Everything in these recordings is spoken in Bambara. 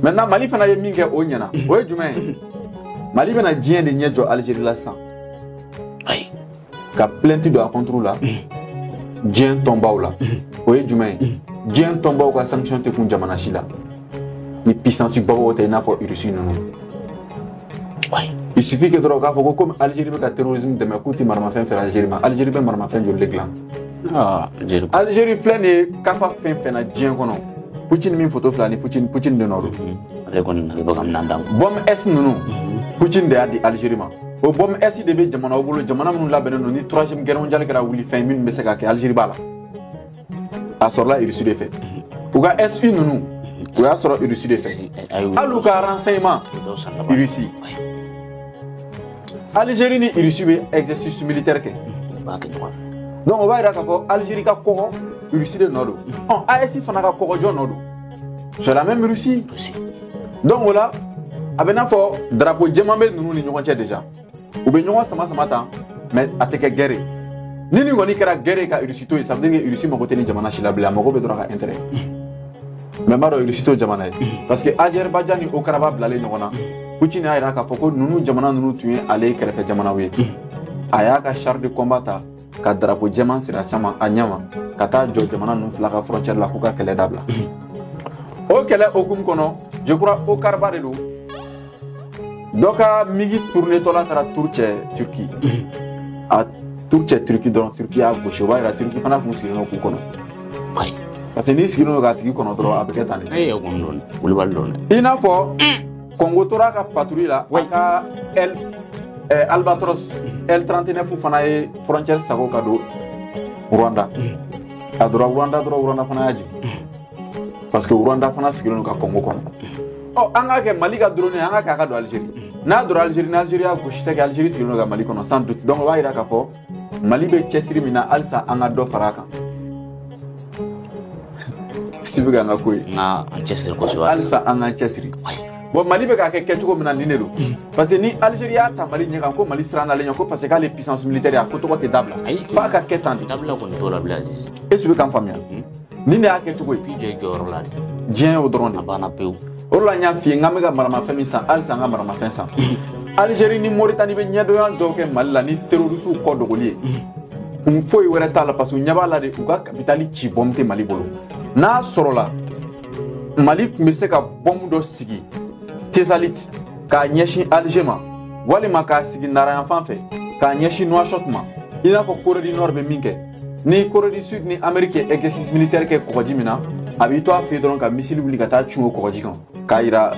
maintenant mali fana ye min kɛ o ɲɛna o ye jumɛn ye mali bɛna diɲɛ de ɲɛ jɔ algérie la sisan a y'a ka plainte don a contre la diɲɛ tɔnbaw la o ye jumɛn ye diɲɛ tɔnbaw ka sanction tɛ kun jamana si la ni puissance babaw tɛ i n'a fɔ russie ninnu Il suffit que dɔrɔn k'a fɔ ko comme Algérie bɛ ka terrorisme dɛmɛ k'u tɛ maramafɛn feere Algérie ma Algérie bɛ maramafɛn joli de dilan ah, Algérie filɛ nin ye ka fa fɛn fɛn na diɲɛ kɔnɔ Poutine min foto filɛ nin Poutine Poutine de nɔ don mm-hmm. ale kɔni ale bɛ ka minɛn d'a ma bombe S ninnu mm-hmm. Poutine de y'a di Algérie ma o bombe S de bɛ jamanaw bolo jamana minnu labɛnnen don ni troisième guerre mondiale kɛra wuli fɛn minnu bɛ se ka kɛ Algérie b'a la a sɔrɔla irisi de fɛ u ka su ninnu u y'a sɔrɔ irisi de fɛ hali u ka renseignement irisi algérie ni irisi bɛ exercice militaire kɛ donc o b'a yira k'a fɔ algérie ka kɔgɔ irisi de nɔ don ɔ AES fana ka kɔgɔ jɔn nɔ don c'est la même russie donc o la a bɛ n'a fɔ drapeau jɛman bɛ ninnu ni ɲɔgɔn cɛ déjà u bɛ ɲɔgɔn sama sama tan mais a tɛ kɛ guerre ni nin kɔni kɛra guerre ka irisi to yen ça veut dire que irisi mago tɛ ni jamana si la bilen a mago bɛ dɔrɔn a ka intérêt mais an b'a dɔn irisi t'o jamana ye parce que azɛribajan ni okaraba bilalen ɲɔgɔn na putin y'a jira k'a fɔ ko ninnu jamana ninnu tun ye ale kɛrɛfɛ jamanaw ye a y'a ka char de combat ta ka darapo jɛman siri a caman a ɲɛma ka taa jɔ jamana ninnu fila ka frontière la k'u ka kɛlɛ dabila o kɛlɛ hukumu kɔnɔ je crois okaraba de don dɔ ka migi tournetɔ la taara tour kɛ turki a tour kɛ turki dɔrɔn turki y'a gosi o b'a yira turki fana tun sigilen don k'u kɔnɔ parce que n'i sigilen don k'a tigi kɔnɔ dɔrɔn a bɛ kɛ tan de i n'a fɔ Kɔngo tora ka patuli la wa ka alibatɔ tranteɛnɛ fu fana ye fcɛ sago ka don wda ka dɔrɔnda dɔrɔnda fana jigin parce que wda fana sigilen ka kɔngo kɔnɔ ɔ an k'a kɛ mali ka don an ka k'a ka don alize n'a don alize alizeiriri' gosisi alizeri sigilen ka mali kɔnɔ san dɔn b'a jira ka fɔ mali bɛ cɛsiri min na halisa an ka dɔ fara a kan si bɛ ka an ka ko ye halisa an k'an cɛsiri bon mali bɛ k'a kɛ kɛcogo min na nin de don mm. parce que ni algérie y'a ta mali ɲɛ kan ko mali siranna ale ɲɛ ko parce que k'ale puissance militaire a ko tɔgɔ tɛ dabila f'a ka kɛ tan de est ce que i bɛ ka n faamuya mm. nin de y'a kɛcogo ye i b'i jɔ i jɔyɔrɔ la de diɲɛ y'o dɔrɔn de banna pewu o de la n y'a f'i ye n k'an bɛ ka maramafɛn min san halisa an ka maramafɛn san algérie ni moritani bɛ ɲɛdɔnya dɔw kɛ mali la ni terorisiw kɔ dogoli ye kun foyi wɛrɛ t'a la parce que u ɲɛ b'a la de u ka kapitali ci bɔmu tɛ mali bolo n'a sɔrɔla mali tun bɛ se ka bɔmu dɔ sigi tesaliti k'a ɲɛsin alger ma walima k'a sigi nara yanfan fɛ k'a ɲɛsin nuwashɔt ma i n'a fɔ corée du nord bɛ min kɛ ni Corée du Sud ni Amérique ye exercice militaire kɛ kɔgɔji min na a b'i to a fɛ dɔrɔn ka misili wuli ka taa cun o kɔgɔji kan k'a yira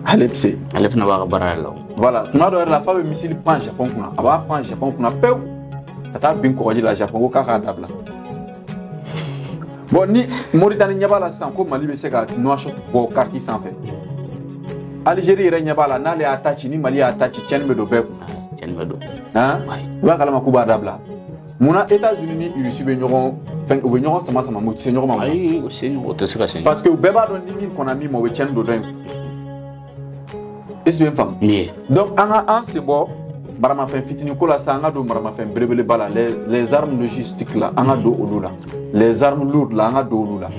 ale tɛ se ale fana b'a ka baara yɛrɛ la voilà tuma dɔ yɛrɛ la f'a bɛ misili pan Japon kunna a b'a pan Japon kunna pewu ka taa bin kɔgɔji la Japon ko k'a k'a dabila bon ni Mauritanie ɲɛ b'a la sisan ko Mali bɛ se ka Nouakchott bɔ kariti sanfɛ Algérie yɛrɛ ɲɛ b'a la n'ale y'a ta ci ni Mali y'a ta ci tiɲɛni bɛ don bɛɛ kun cɛnni bɛ don i b'a kalama k'u b'a dabila mun na états unis ni russie bɛ ɲɔgɔn fɛn u bɛ ɲɔgɔn sama sama mais u tɛ se ɲɔgɔn ma ayi o se ɲɔgɔn o tɛ se ka se parce que u bɛɛ b'a dɔn ni min kɔnna min ma o bɛ cɛnni don dɔ in est ce i bɛ n faamu nin ye donc an ka an sen bɔ maramafɛn fitinin ko la sa an ka don maramafɛn belebeleba la les armes logistiques la an ka don olu la les armes lourdes la an ka don olu la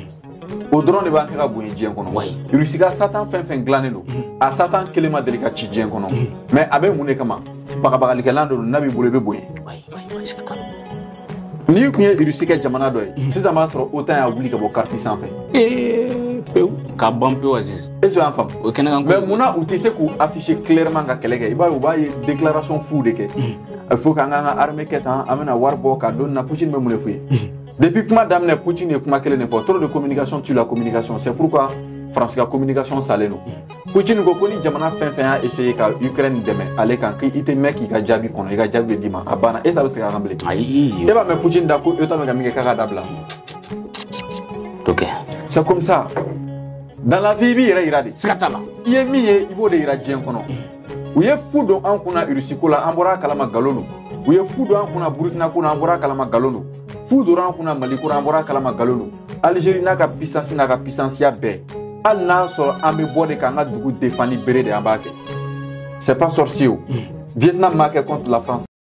o dɔrɔn de b'an kɛ ka bonya diɲɛ kɔnɔ Wayi. irisi ka satan fɛn fɛn dilannen don a satan kelen ma deli ka ci diɲɛ kɔnɔ mais a bɛ mun de kama bagabagalikɛlan dɔ don n'a b'i bolo i bɛ bonya Wayi, wayi, wayi, siga t'a la. n'i tun ye irisi kɛ jamana dɔ ye sisan b'a sɔrɔ otan y'a wuli ka bɔ kariti sanfɛ Ee, pewu k'a ban pewu aziz est ce que y'an faamu o ye kɛnɛkan ko mais munna u tɛ se k'u afficher clairement ka kɛlɛ kɛ i b'a ye u b'a ye déclaration fu de kɛ il faut k'an k'an ka armée kɛ tan an bɛna wari bɔ ka don nin na putin bɛ mun de f'u ye Depuis kuma daminɛ Poutine ye kuma kelen de fɔ trop de communication tue la communication c'est pourquoi France ka communication salen don Poutine ko ko ni jamana fɛn fɛn y'a essayer ka Ukraine dɛmɛ ale kan k'i tɛ mɛn k'i ka jaabi kɔnɔ i ka jaabi bɛ d'i ma a banna est ce a bɛ segin a kan bilen ayi e b'a mɛn Poutine da ko OTAN bɛ ka min kɛ k'a k'a dabila ok c'est comme ça dans la vie i b'i yɛrɛ yira de siga t'a la i ye min ye i b'o de yira diɲɛ kɔnɔ u ye fu don an kunna irusi ko la an bɔra a kalama galon don u ye fu don an kunna burukina ko la an bɔra a kalama galon don fu dora an kunna mali ko la an bɔra a kalama galon don algérie n'a ka pisansi n'a ka pisansiya bɛɛ hali n'a sɔrɔ an bɛ bɔ de k'an ka dugu defan ni bere de an b'a kɛ c'est pas sorcier o mm. vietnam m'a kɛ contre la france